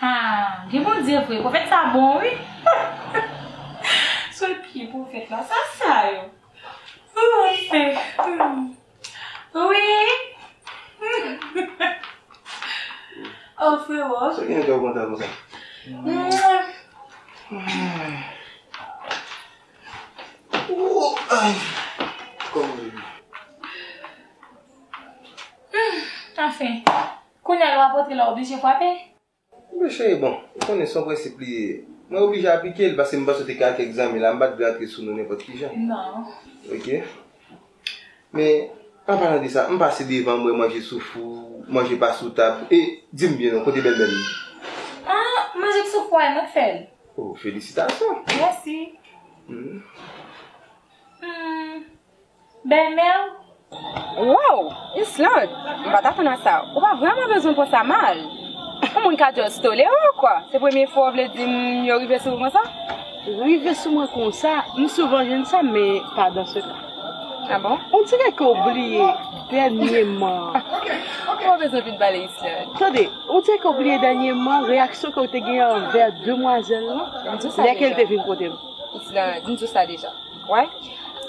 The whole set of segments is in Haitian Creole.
Haa gen Bondye vre profèt sa bon wi sou pye profèt la sa sa yo ooh ooh frero. Kounya yo apotre la oblije fwape? Anpe cheri bon, ou konnen son prensip li ye. Mwen oblije aplike li paske m panse w te ka ak kèk zanmi la, m pa t vle antre sou nou nenpòt ki jan. Non. Ok. Men, an palan de sa, m pase devan m wè manje sou fou, manje pa sou tab, e, di m byen non, kote bèlmè m? Ah, manje k sou fou a, e mwen k fè l. Oh, felisitasyon! Mèsi. Hum. Hum. Bèlmèw? Wow! Ysselande, m pa t atann a sa. Ou pa vrèman bezwen pran sa mal. Yon moun ka just tolere w, kwa. Se premye fwa w vle di m yo rive sou ou konsa? Rive sou mwen konsa, m souvan jwenn sa, men pa dan se ka. A bon? Ondirè ke w bliye dènyeman. Ou pa bezwen vin pale, Ysselande. Tande, ondirè ke w bliye dènyeman reyaksyon ke w te gen anvè demwazèl lan, lè ke l te vin kote m. Ysselande, m di w sa deja. Wè,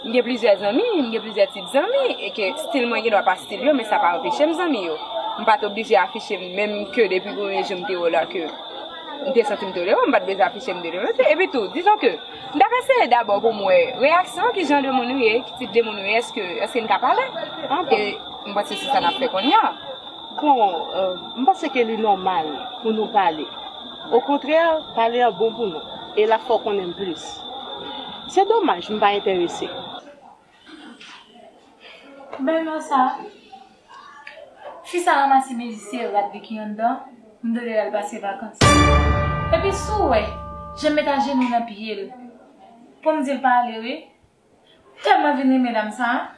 m gen plizyè zanmi, m gen plizyè tip zanmi, e ke stil mwen gendwa pa stil yo, men sa pa anpeche m zanmi yo. M pa t oblije afiche m, menm ke depi premye jou m te wè w la ke m te santi m tolere w, m pa t bezwen afiche m tolere w. Epi tou, dizon ke, m t ap eseye dabò pou m wè reyaksyon w, ki jan de moun ou ye, ki tip de moun ou ye, èske, èske n ka pale? Ok. E m panse se sa n ap fè kounye a. Bon, m panse ke li nòmal pou nou pale. Okontrè, pale an bon pou nou e lap fè w konnen m plis. Se domaj m pa enterese. Men non sa. Fi sa ranmase mezisye yo rat viki anndan, m dwe lè l al pase vakans. Epi si w wè jan m met ajenou nan pye l pou m di l pa ale wi. M telman vin renmen dam sa.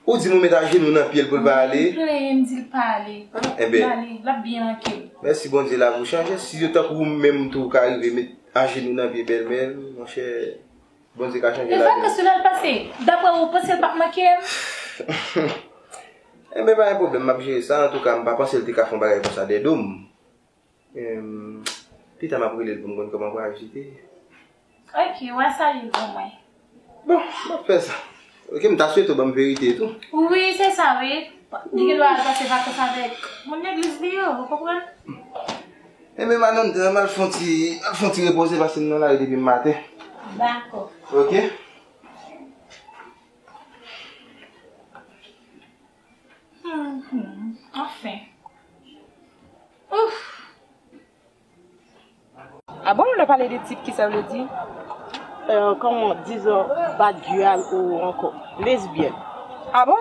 Ou di mwen met ajenou nan pyel poul pa ale. M plenyen m dil pa ale. Li ale lap byen mankem. Mèsi Bondye lavi ou chanje si yo tankou ou menm tou ka rive met ajenou nan pye bèlmè l monchè Bondye ka chanje lavi nou. Evre paske lal pase daprè ou panse l pap mankem. Enben pa gen pwoblèm map jere sa antouka m pa panse l te ka fon bagay konsa dè dom. Pita map relel poum konn koman pral jete. Ok wa salye pou mwen. Bon map fè sa. Ok mta swete ou banm verite tou. Wi se sa wi. Li gen dwa al pase vakans avek moun legliz li yo ou konprann. Enben madanm dra mal fon ti mal fon ti repoze paske m nan lari depi maten. Dako. Ok. Humm anfen Ouff. Ah bon lè pale de tip kisa vle di? Euh comment disons bat dual ou anko lesbienne. Ah bon?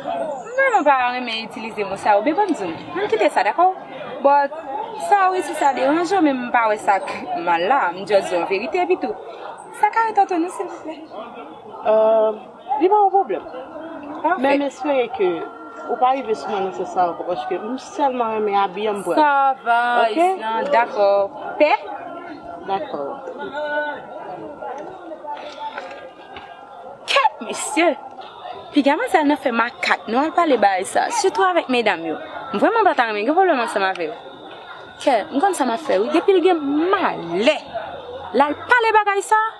M vrèman pa renmen itilize mo sa yo be banm di w. Ann kite sa dakò? But sa wi si sa deranj w men m pa wè sak mal la, m just di w an verite epitou. Sa ka ret antre nou silvouplè? Euh. Li pa yon pwoblèm. Men m espere ke ou pa rive sou mwen nan sans sa ankò paske m sèlman renmen abi an m pran. Sa va Islan, dakò. Pè? Dakò. Kèt mesye! Piga manzèl nan fè makak nou al pale bagay sa, sitou avèk medam yo. M vrèman pa ta renmen gen pwoblèm ansanm avè yo. Kè, m konn sa m ap fè wi, depi l gen malè l al pale bagay sa,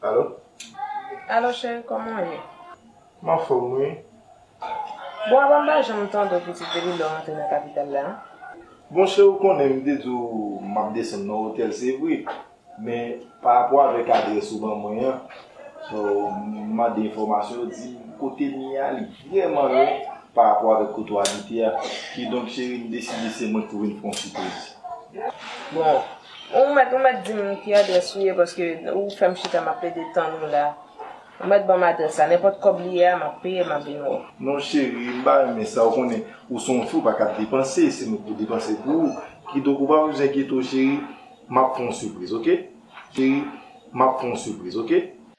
Alo Alo cheri kòman ou ye? M anfòm wi Bon apa m pa janm tande w pitit depi lè w antre nan kapital la Bon cheri ou konnen m te di w m ap desann nan otèl se vre Men pa rapò avèk adrès ou ban mwen an, m mande enfòmasyon ou di m kote m ye a li vrèman lwen pa rapò avèk kote w abite a. Kidonk cheri m deside se mwen k pou vin fè yon sipriz. Bon, ou mèt ou mèt di m ki adrès ou ye paske ou fè m chita m ap plede tann ou la. Ou mèt ban m adrès la, nenpòt kòb li ye a m ap peye l m ap vin wè w. Non cheri, m pa renmen sa ou konnen ou se yon fi ou pa ka ap depanse, se mwen k pou depanse pou ou. Kidonk ou pa bezwen enkyete w cheri, Map fon sipriz ok cheri. Map fon sipriz ok.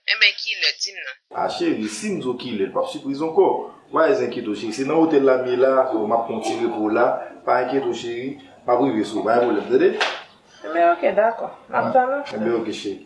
Enben kilè dim non. Ah cheri sim diw kilè l pap sipriz ankò wa ez enkyete w cheri se nan otèl la m ye la so map pran ti repo w la pa enkyete w cheri map rive sou w pa gen pwoblèm tande. Enben ok dakò map tann ou. Enben ok cheri.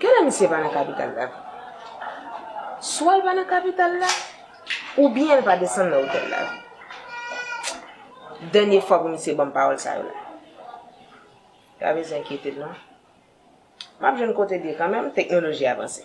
Genlè misye pa nan kapital la vre. Swa l pa nan kapital la, oubyen l pa desann nan otèl la vre. Dènye fwa pou misye ban m pawòl sa yo la. Pa bezwen enkyete w non. M ap jwenn kote l ye kanmenm, teknoloji avanse.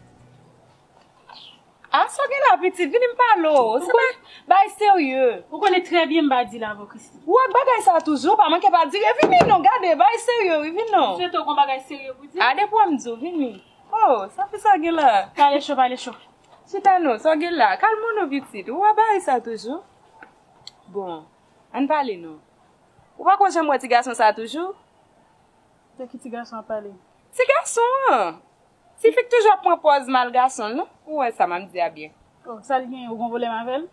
Ah sa w gen la pitit, vini m pale w, se pa bagay serye. Ou konnen trè byen m pa di la vò Christie. Ou ak bagay sa toujou, ou pa manke pa dire, vini non, gade, bagay serye wi, vini non. M swete w gon bagay serye pou di. Ah depi wè m di w, vini. Oh, sa fi sa gen la. Pale cho, pale cho. Chita non, sa w gen la, kalme w non pitit, ou ak bagay sa toujou. Bon, an n pale non. Ou pa konn jan m wè ti gason sa toujou? De ki ti gason w ap pale? Ti gason an! Ti fi k toujou ap pran pòz mal gason l non ou wè sa map di a byen. Oh sal genyen ou gon volèm avèl?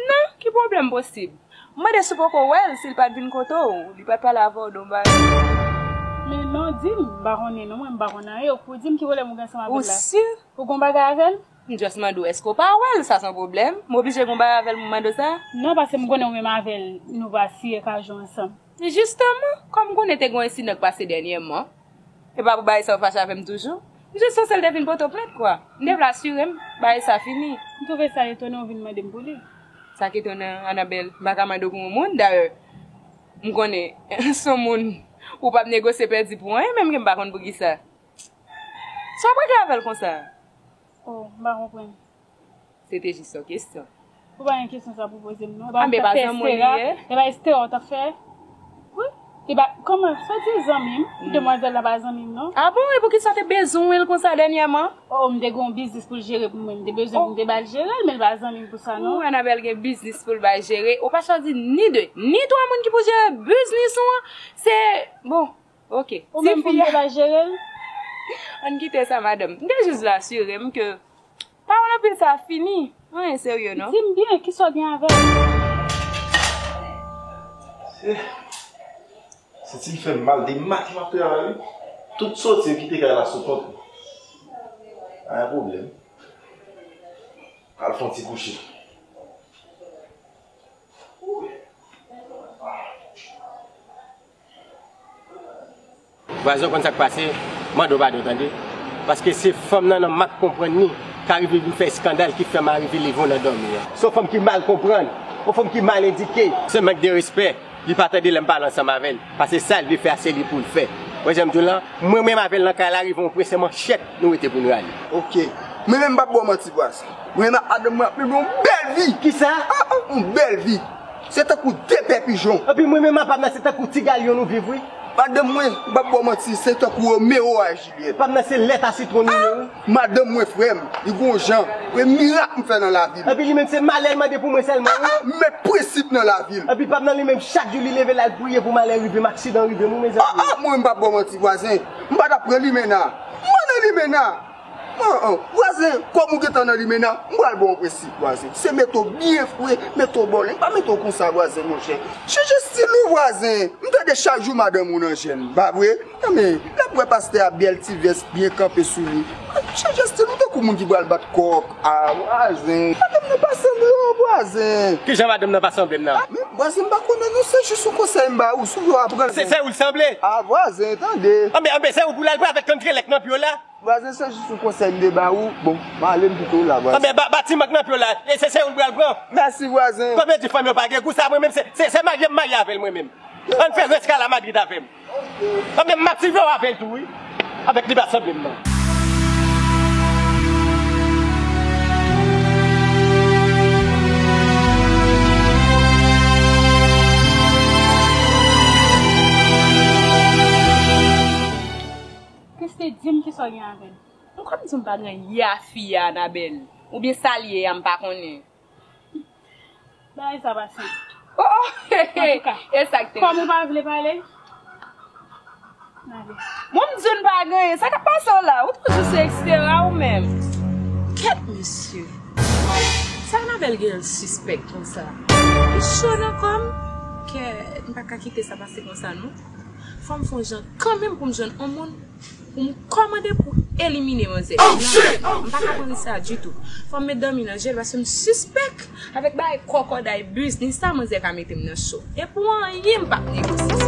Non ki pwoblèm posib. M mande si w poko wè l si l pat vin kote w li pat pale avè w don bagay. Men non di m m pa konnen non mwen m pa konn anyen ou k pou di m ki volèm ou gen ansanm avèl la. Ou si? Ou gon bagay avèl? M just mande w èske w pa wè l sa son pwoblèm? M oblije gon bagay avèl pou m mande w sa? Non paske m konnen ou menm avèl nou pa siye kajou ansanm. Jisteman kòm m konnen te gon ensidan k pase dènyèman Epa pou Baesa ou fache avèm toujou? M just panse l te vin poto plent kwa. M te vle asire m Baesa fini. M twouve sa etonan ou vin mande m pou li. Sa k etonan an Anabèl? M pa ka mande w pou yon moun, dayè m konnen s on moun ou pap negosye pèdi pou anyen menm ke m pa konn poukisa. Sa w prèt avè l konsa? O, m pa konprann. Se te jis yon kesyon. Ou pa gen kesyon sa pou poze m non. Epa mwen tap fè estera. Epa estera ou tap fè. Wi. Epa koman sa di zanmi m. Demwazèl la pa zanmi m non. A bon e poukisa ou te bezwen l konsa dènyèman. O m te gen yon biznis pou l jere pou mwen. M te bezwen pou m te ba l jere l men l pa zanmi m pou sa non. Ou anabèl gen biznis pou l bay jere. Ou pa chwazi ni de ni twa moun ki pou jere biznis ou an. Se bon Ok. Ou menm pou m te bay jere l? Ann kite sa madanm. M te jis vle asire m ke pawòl anpil sa a fini. Anyen serye non. Di m byen, kisa w gen avè l? Senti m fè m mal de mak m ap travay wi. Tout soti m kite kay la sou kont mwen. Pa gen pwoblèm. M al fè yon ti kouche. Vwazen w konn sak pase mande w padon tande paske se fanm nan nan mak konprann ni ka rive vin fè eskandal ki fè mari vi leve w nan dòmi an. Se yon fanm ki mal konprann, yon fanm ki mal edike. Se mank de respè, li pa tande lè m pale ansanm avè l, pase sa l vle fè a se li pou l fè. Wè jan m di w lan, mwen menm avè l nan kay la rive yon pwen se manchèt nou rete pou n rale. Ok, mwen menm m pap ba w manti vwazen. Mwen menm ak madanm mwen ap mennen yon bèl vi. Kisa? Yon bèl vi. Se tankou de pè pijon. Epi mwen menm apam nan se tankou ti galyon nou viv wi. Madanm mwen, m pap ba w manti, se tankou Romeo a Juliette. Pam nan se lèt a sitwon nou ye wi. Madanm mwen frèm, li gon jan, e mirak m fè nan lavim. Epi li menm se malè l mande pou mwen sèlman wi. M met prensip nan lavim. Epi pam nan li menm chak jou li leve lal priye pou malè rivem, aksidan rivem wi mezanmi. Mwen menm m pap ba w manti vwazen, m pa tap pran limena. M pa nan limena. An an, vwazen, kòm ou gentan nan limena, m pral ba w prensip vwazen. Se mete w byen fre, mete w bòleng, pa mete w konsa vwazen monchè. Chanje stil ou vwazen, m tande chak jou madanm ou nan jèn, pa vre? Anben, l ap wè pastè a bèl ti vès byen kanpe sou li. Chanje stil ou tankou moun ki pral bat kòk. A vwazen, madanm nan pa sanble w vwazen. Kijan madanm nan pa sanble m nan? A men, vwazen m pa konnen non, se jis yon konsèy m ba ou, si w vle w ap pran l men. Se ou l sanble? A vwazen, tande. Anben, anben, se ou pou l al pran avèk kangrelèk nan pye w la. Vwazen se jis yon konsèy m te ba ou, bon, m ale m kite w la vwazen. Anben, ba ti mank nan pye w la, e se yon l pral pran. Mèsi vwazen. Kòm yo di fanm yo pa gen gou, sa mwen menm se, se marye m marye avè l mwen menm. An n fè rès kay la Madrid avè m. Anben, m ap swive w avè l tou wi, avèk li pa sanble m non. Christie dim kisa w gen avèl. M konn dim pa gen anyen ye a fi a Anabel ou byen sal ye a m pa konnen. Bagay sa pa senp. Oh oh antouka kòm ou pa vle pale nale. Bon m di w n pa gen anyen sa kap pase w la ou toujou se ekstera ou menm. Kèt mesye. Sa Anabel gen l sispèk konsa. M cho nan kòm. Kè m paka kite sa pase konsa non. Fòm fon jan kanmenm poum jwenn on moun poum kòmande pou elimine manzè nan menm m paka pran risk sa ditou fòm met dòmi nan jel paske m sispèk avèk bagay kòkòday biznis sa manzè ka metem nan cho e pou anyen m pap negosye sa.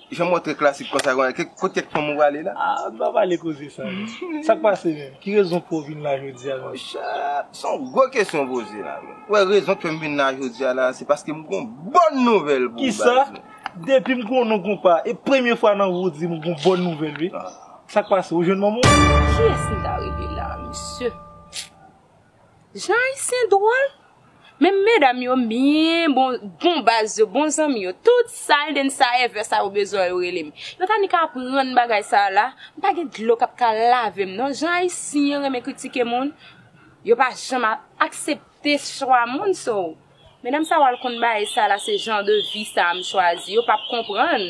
Jan mwen trè klasik konsa konye ke kot kèk fanm ou prale la. Ah nou pa pale koze sa non. Sak pase menm? Ki rezon pouw vin la jodi a menm? Mon chè, son gwo kesyon ou poze la menm. Ou wè rezon k fèm vin la jodi a la se paskem gon bòn nouvèl pou ou baz mwen. Kisa? Depim konnen w konpa e premye fwa nan vi w dim ou gon bòn nouvèl wi. Sak pase ou jwenn manman w? Kiyès m ta rele la mesye? Jan ayisyen dwol. Men medam yo m byen bon bon baz yo bon zanmi yo tout sal den sa ever sa yo bezwen yo rele m yo ta ni ka aprann bagay sa la m pa gen dlo kap ka lave m non jan ayisyen renmen kritike moun yo pa janm ap aksepte chwa moun so medam sa yo al konn bae sa la se jan de vi sa m chwazi yo pap konprann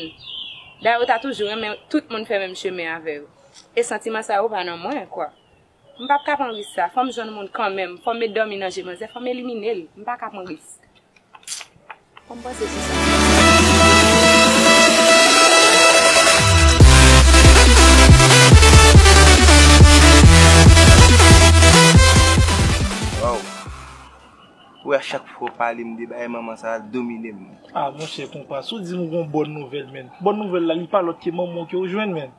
dayè yo ta toujou renmen tout moun fè menm chemen avè yo e santiman sa yo pa nan mwen kwa. M pap ka pran risk sa, fò m jwenn moun kanmenm, fò m met dòmi nan je manzè, fò m elimine l, m pa ka pran risk. Fò m panse sou sa. Waw! Wè a chak fwa w pale m de bagay manman sa a domine m. Ah monchè konpa, si w di m ou gon bòn nouvèl menn, bòn nouvèl la li pa lòt ke manman w ke w jwenn menn.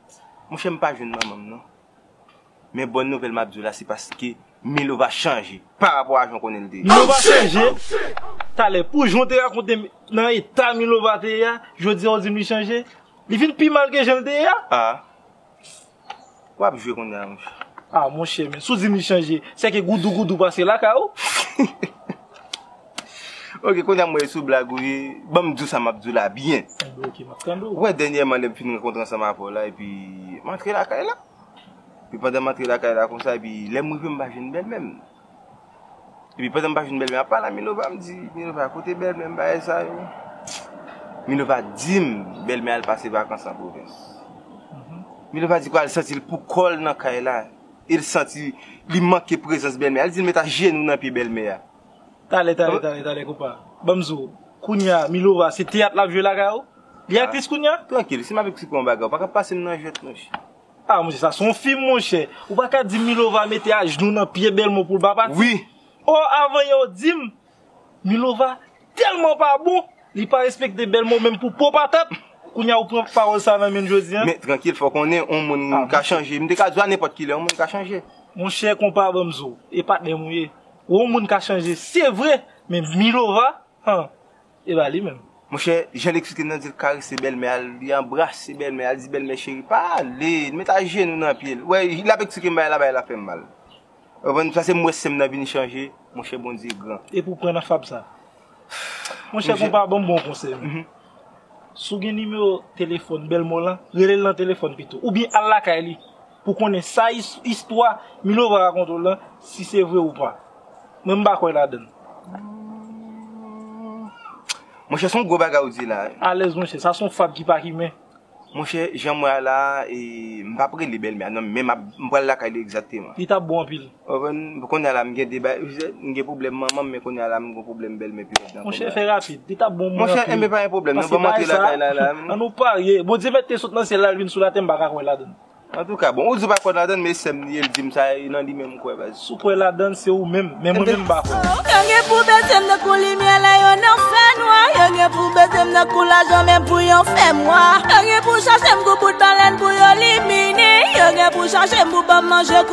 Monchè m pa jwenn manman m non. Men bòn nouvèl map diw la se paske Melo va chanje pa rapò a jan w konnen l te ye. Milo va chanje Talè pou jan w te rakonte m nan eta Milova te ye a jodi a w di m li chanje Li vin pi mal ke jan l te ye a A wap jwe kounya monchè A monchè men si w di m li chanje sè ke goudougoudou pase lakay ou. Ok kounye a m wè sou blag ou ye Banm di w sa map di w la byen Ou wè dènyèman lè m fin rankontre ansanm avè w la epi m antre lakay la Epi pandan m antre lakay la konsa epi lè m rive m pa jwenn bèlmè m Epi pandan m pa jwenn bèlmè a pala Milova m di Milova kote bèlmè m bagay sa yo Milova di m bèlmè al pase vakans an pwovens Milova di kwa l santi l pou kò l nan kay la E l santi li manke prezans bèlmè a Li di l met ajenou nan pye bèlmè a Tale tale tale tale konpa banm di w kounya milova se teyat lap jwe lakay ou li aktris kounya. Trankil si m ap eksplike w yon bagay ou paka pase m nan jwèt monchè. Ah monchè sa son fim monchè ou paka di m milova mete ajnou nan pye belmo pou l pa pati wi oh avan yè ou di m milova telman pa bon li pa respekte belmo menm pou po patat kounya ou pran pawòl sa nan men m jodi an. Men trankil fò w konnen yon moun ka chanje m te ka di w a nenpòt kilè yon moun ka chanje. Monchè konpa banm di w e patnè m ou ye. Yon moun ka chanje se vre men Milova han epa li menm. Monchè jan l eksplike nan di l karese bèlmè a li anbrase bèlmè a li di bèlmè cheri pa ale li met ajenou nan pye l wè l ap eksplike m bagay la bagay la fè m mal ou konprann sa se m wè sè m nan vin chanje monchè Bondye gran. Epi w pran nan fab sa. Monchè konpa banm bon konsèy mwen si w gen nimewo telefòn bèlmè w lan rele l nan telefòn pito oubyen al lakay li. pou konnen sa istwa Milova rakonte w lan si se vre ou pa. Mwen m pa kwè ladann. Monchè son gwo bagay ou di la. Alèz monchè, sa son fab ki pa kimen. Monchè, jan m wè a la a, e m pap rele bèlmè a non, men m pral lakay li egzakteman. Li tap bon anpil. Konprann, kounya la m gen 2 bagay, m gen pwoblèm manman m men kounya la m gen pwoblèm bèlmè pi vit nan kounya. Monchè fè rapid, li ta bon pou mwen anpil. Monchè, enben pa gen pwoblèm nan, banm antre lakay la la. An nou parye, Bondye mèt te sot nan syèl la l vin sou latè m pa ka kwè ladan l. Antouka, bon ou di w pa kwè ladan l men sè m li ye l di m sa e nan li menm m kwè baz. Si w kwè ladan l se ou menm, men mwen menm m pa kwè. Yo gen pou bese m nan kou limyè lè yo nan fènwa Yo gen pou bese m nan kou lajan menm pou yo fè m wa Yo gen pou chache m kou bout balèn pou yo limine Yo gen pou chache m pou ban m manje kou.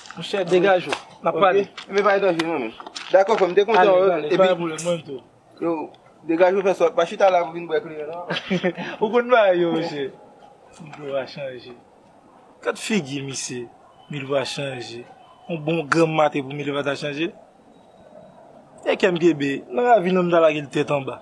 Monchè degaj ou, n ap pale. Ok, men pa gen danje nan men. Dakò frè m, m te kontan wè w. Annik, annik, pa gen pwoblèm, mwen menm tou. Yo, degaj ou fè sòt, pa chita la pou vin bwè kleren non. Ou konn bagay yo monchè. Milova chanje. Gad figi misye, Milova chanje. Yon bon granm maten pou Milova ta chanje? Ekèm gebe, nan ravin an m ta lage l tèt anba.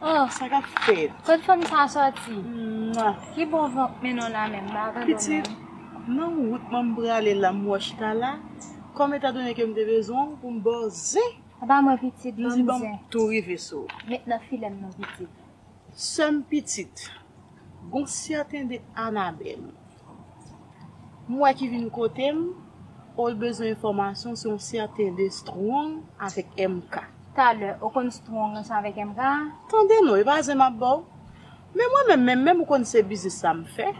Oh sa kap fet. Kot fanm sa soti. Ki bon van k mennen w la menm m pa konprann menm. Pitit nan wout mwen m prale la m wè w chita la kòm etan done ke m te bezwen w pou m ba w zen. A ba mwen pitit banm zen. M di banm tou rive sou w. Met nan filem non pitit. Sèm pitit. Gon sèten de Anabèl m wè ki vin kote m oh l bezwen enfòmasyon sou yon sèten de Strong avèk MK. Talè ou konn Strong ranse avèk MK? Tande non e pa zen m ap ba w men mwen menm menm menm ou konn se biznis sa m fè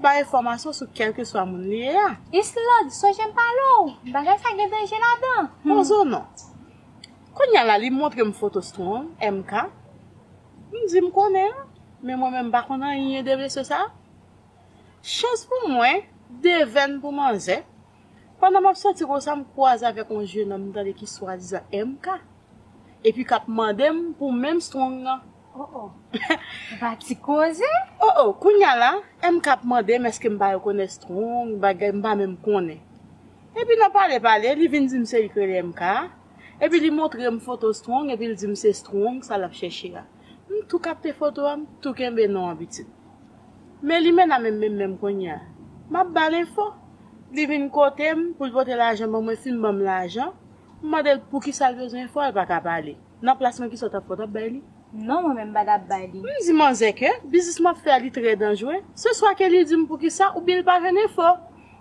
bay enfòmasyon sou kèlkeswa moun li ye a. Islande sonje m pale w bagay sa gen danje ladan. Pozo non. Kounya la li montre m foto Strong, MK. M di m konnen l, men mwen menm m pa konn anyen de mesye sa. Chans pou mwen, devèn pou manzè, pandan m ap soti konsa m kwaze avèk yon jenòm m tande ki swadizan MK, epi k ap mande m pou menm Strong nan. O o! M pa ti koze! O o! Kounya la, MK ap mande m èske m pa rekonèt Strong, bagay m pa menm konnen. Epi nan pale pale, li vin di m se li k rele MK a. Epi li montre m foto Strong epi l di m se Strong sa l ap chèche a. M tou kapte foto a, m tou kenbe non an pitit. Men Limena menm menm menm kounye a, m ap ba l enfo. Li vin kote m pou l pote lajan ban mwen, fin ban m lajan, m mande l poukisa l bezwen enfo a l pa ka pale. Nan plas mwen ki sa w t ap fè, w t ap bay li? Non mwen menm pa tap bay li. M di manzè ke biznis map fè a li trè danjre, se swa ke li dim poukisa oubyen li pa jwenn enfo.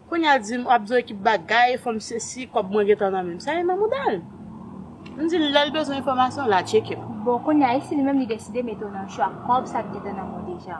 Kounya l dim wap bezwen ekip bagay, fòm sesi, kòb mwen gentan nan menm. Sa e nan mouda l. M di l lè l bezwen enfòmasyon la tcheke m. Bon kounya e si li menm li deside mete w nan cho ak kòb sa k gentan nan men w deja.